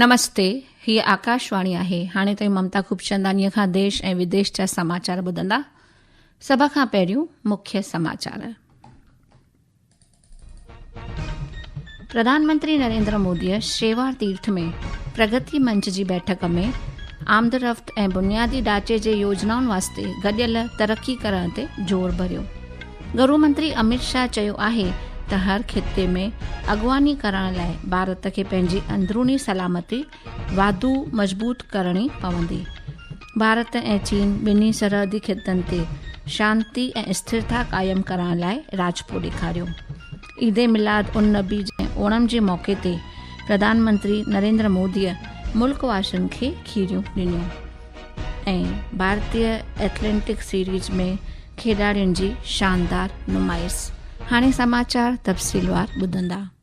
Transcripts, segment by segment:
نمستي هي آڪاشواڻي آهي هاڻي تائين ممتا خوبچنداني کان ديش ۽ وديش جا سماچار ٻڌندا سڀ کان پهريون مکيه سماچار پرڌانمنتري نريندر موديء شيوار تيرٿ ۾ پرگتي منچ جي بيٺڪ ۾ آمدرفت ۽ بنيادي ڍانچي جي يوجنائن واسطي گڏيل ترقي ڪرڻ تي زور ڀريو گهرو منتري اميت شاهه چيو آهي ته هر خطي ۾ اڳواڻي ڪرڻ لاء ڀارت کي پنهنجي اندروني سلامتي واڌو مضبوط ڪرڻي پوندي. ڀارت ۽ چين ٻنهي سرحدي خطن تي شانتي ۽ اسٿرتا قائم ڪرائڻ لاء راضپو ڏيکاريو. عيد ميلاد النبي ۽ اوڻم جي موقعي تي پرڌان منتري نريندر موديء ملڪ واسين کي کيريون ڏنيون ۽ ڀارتي ايٿليٽڪ سيريز ۾ کيڏاڙين جي شاندار نمائش. هاڻي سماچار تفصيلوار ٻڌندا.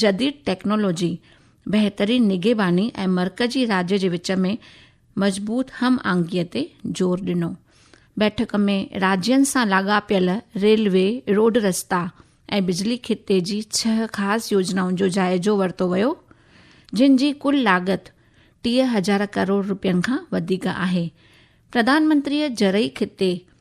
جديد ٽيڪنالاجي، بهترين نگهباني ۽ مرڪزي راڄ جي وچ ۾ مضبوط هم آهنگي تي زور ڏنو. بيٺڪ ۾ راڄين سان لاڳاپيل ريلوي، روڊ رستا ۽ بجلي خطي جي ڇهه خاص يوجنائن جو جائزو ورتو ويو، جن جي ڪل لاڳت ٽيهه هزار ڪروڙ روپين کان وڌيڪ آهي. پرڌانمنتريء زرعي خطي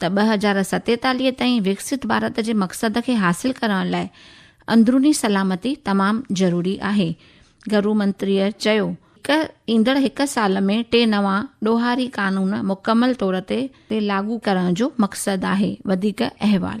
ته ٻه هزار ستيتاليهه تائين وڪسيت ڀارت جي مقصد کي حاصل ڪرڻ لاء اندروني سلامتي تمام ضروري آهي. گهرو منتريء چيو ته ايندڙ هڪ سال ۾ ٽي نوان ڏوهاري قانون مڪمل طور تي لاڳو ڪرڻ جو مقصد آهي. وڌيڪ احوال.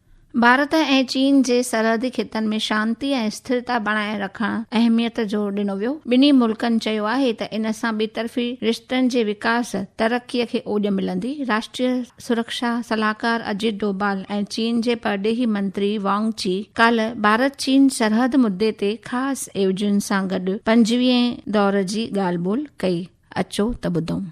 ڀارت ۽ چين جي سرحدي خطن ۾ شانتي ۽ اسٿرتا بڻائي رکڻ اهميت زور ڏنو ويو. ٻنهي ملڪن چيو آهي ته ان سان ٻطرفي رشتن جي وڪاس ترقي کي اوڄ ملندي. راشٽريه سرڪشا صلاحڪار اجيت ڊوڀال ۽ چين جي پرڏيهي منتري وانگ چي ڪالهه ڀارت چين سرحد مدي تي خاص ايوجين سان گڏ پنجويهين دور جي ڳالهه ٻولهه ڪئي اچو ته ٻڌون.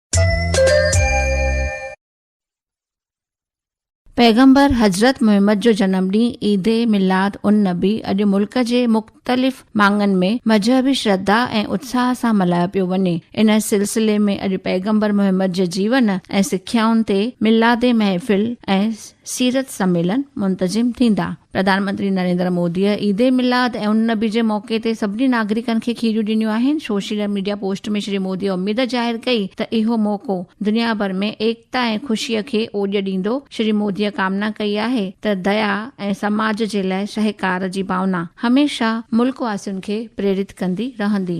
پيغمبر حضرت محمد جو جنم ڏينهن عيد ميلاد النبي اڄ ملڪ جي مختلف ماڳن ۾ مذهبي شرڌا ۽ اتساهه سان ملهايو پيو وڃي. ان سلسلي ۾ اڄ پيغمبر محمد جي جيون ۽ سکيائن تي ميلادي محفل ۽ سيرت سميلن منتظم ٿيندا. پرڌان منتري نريندر موديء عيد ميلاد ۽ النبي جي موقعي تي سڀني ناگرڪن کي کيريون ڏنيون آهن. سوشل ميڊيا پوسٽ ۾ شري موديء اميد ظاهر ڪئي ته اهو موقعو دنيا ڀر ۾ ايڪتا ۽ خوشيء کي اوڄ ڏيندو. شري موديء ڪامنا ڪئي آهي ته ديا ۽ سماج جي لاء سهڪار جي ڀاونا هميشه ملڪ واسين کي پريرت ڪندي رهندي.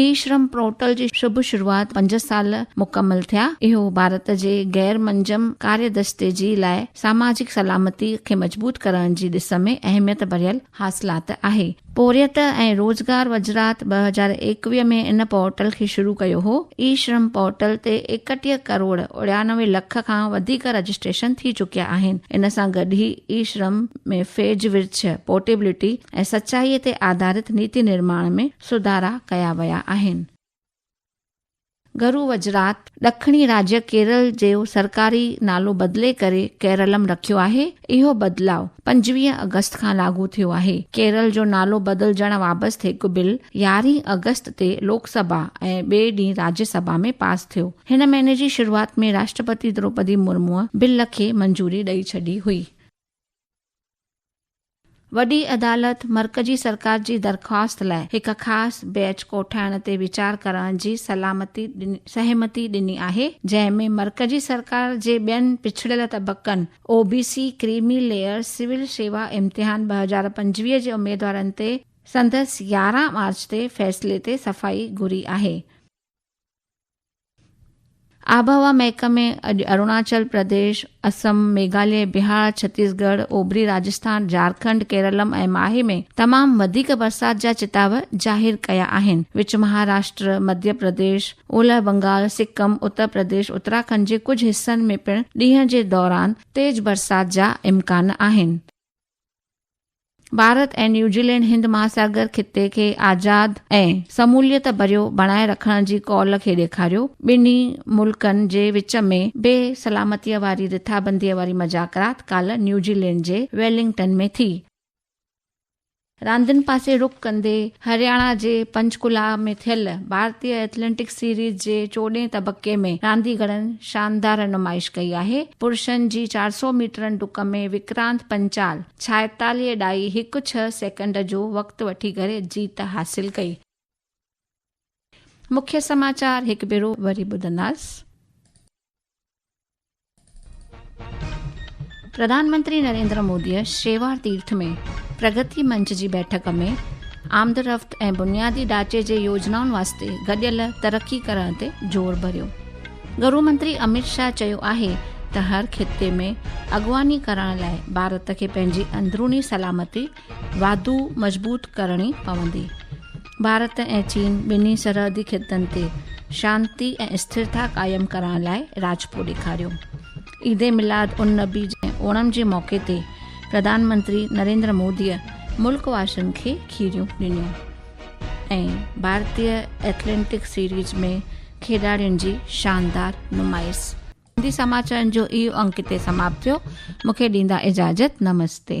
اي شرم پورٽل جي شڀ شروعات پنج سال مڪمل ٿيا، اهو ڀارت جي غير منجم ڪاري دستي جي لاء ساماجڪ سلامتي کي مضبوط ڪرڻ جي ڏس ۾ اهميت ڀريل حاصلات آهي. پورهيت ۽ روزگار وزرات ٻه هزار ايڪويهه ۾ ان پورٽل کي شروع ڪيو هو، اي شرم پورٽل تي ايڪٽيهه ڪروڙ اڻيانوي لک کان وڌيڪ رجسٽريشن ٿي چڪيا آهن، ان سان گڏ هي اي شرم ۾ فيج ورڇ، پورٽيبلٽي، ۽ سچائيء تي آڌارت نيتي نرماڻ ۾ سڌارا ڪيا ويا آهن. گرو وجرات، ڏکڻي راجيه ڪيرل جو سرڪاري نالو بدلي ڪري ڪيرلم رکيو آهي. اهو بدلاء پنجويهه آگسٽ کان لاڳو ٿيو آهي. ڪيرل جو نالو بدلجڻ بابت هڪ بل يارهين آگسٽ تي لوڪ سڀا ۽ ٻئي ڏينهن راجيه سڀا ۾ پاس ٿيو. هن مهيني جي شروعات ۾ راشٽرپتي دروپدي مرموء بل کي منظوري ڏئي ڇڏي هئي. وڏي عدالت مرڪزي سرڪار جي درخواست لاء هڪ خاص بئچ ڪوٺائڻ تي ويچار ڪرڻ جي سلامتي سهمتي ڏني آهي، جنهن ۾ مرڪزي سرڪار جي ٻين پڇڙيل طبقن، O B C, creamy layer, civil شيوا امتحان ٻه هزار پنجويهه جي اميدوارن تي سندس يارهن مارچ تي فيصلي تي صفائي گهري آهي. آبهوا محڪمي اڄ اروناچل پرديش، اسم، ميگهاليه، بهار، ڇتيس ڳڙهه، اوڀري راجسٿان، جارکنڊ، ڪيرلم ۽ ماهي ۾ تمام وڌيڪ برسات جا چتاء ظاهر ڪيا آهن. وچ مهاراشٽر، مڌيه پرديش، اولهه بنگال، سڪم، اتر پرديش، اتراکنڊ جي ڪجهه حصن ۾ پڻ ڏينهن جي دوران تيز برسات جا امڪان آهن. ڀارت ۽ نيوزيلينڊ هند مهاساگر خطي کي آزاد ۽ سموليت ڀريو بڻائي رکڻ جي قول کي ڏيکاريو، ٻنهي ملڪن جي وچ ۾ بي سلامتيء واري رٿابنديء واري مذاڪرات ڪالهه نيوزيلينڊ جي ويلنگٽن ۾ ٿي. راندين پاسي رخ ڪندي هرياڻا جي پنچڪولا ۾ ٿيل ڀارتي ايٿليٽڪس سيريز جي چوڏهين تبڪي ۾ رانديگرن شاندار نمائش ڪئي آهي، پرشن جي چار سؤ ميٽرن ڊڪ ۾ وڪرانت پنچال ڇائيتاليهه ڊائي هڪ ڇهه سيڪنڊ جو وقت وٺي ڪري جيت حاصل ڪئي. مکيه سماچار هڪ ڀيرو وري ٻڌنداس. پرڌان منتري نريندر موديء شيوار تيرٿ ۾ پرگتي منچ جي بيٺڪ ۾ آمدرفت ۽ بنيادي ڍانچي جي يوجنائن واسطي گڏيل ترقي ڪرڻ تي زور ڀريو. گهرو منتري اميت شاهه چيو آهي ته هر خطي ۾ اڳواڻي ڪرڻ لاء ڀارت کي پنهنجي اندروني سلامتي واڌو مضبوط ڪرڻي پوندي. ڀارت ۽ چين ٻنهي سرحدي خطن تي شانتي ۽ اسٿرتا قائم ڪرڻ لاء راجپو ڏيکاريو. عيد ميلاد النبي جي اوڻم جي موقعي تي پرڌان منتري نريندر موديء ملڪ واسين کي کيريون ڏنيون ۽ ڀارتي ايٿليٽڪ سيريز ۾ کيڏاڙين جي شاندار نمائش. سنڌي سماچارن جو اهو انڪ هتي سماپت ٿيو. مون کي ڏيندا اجازت. نمستي.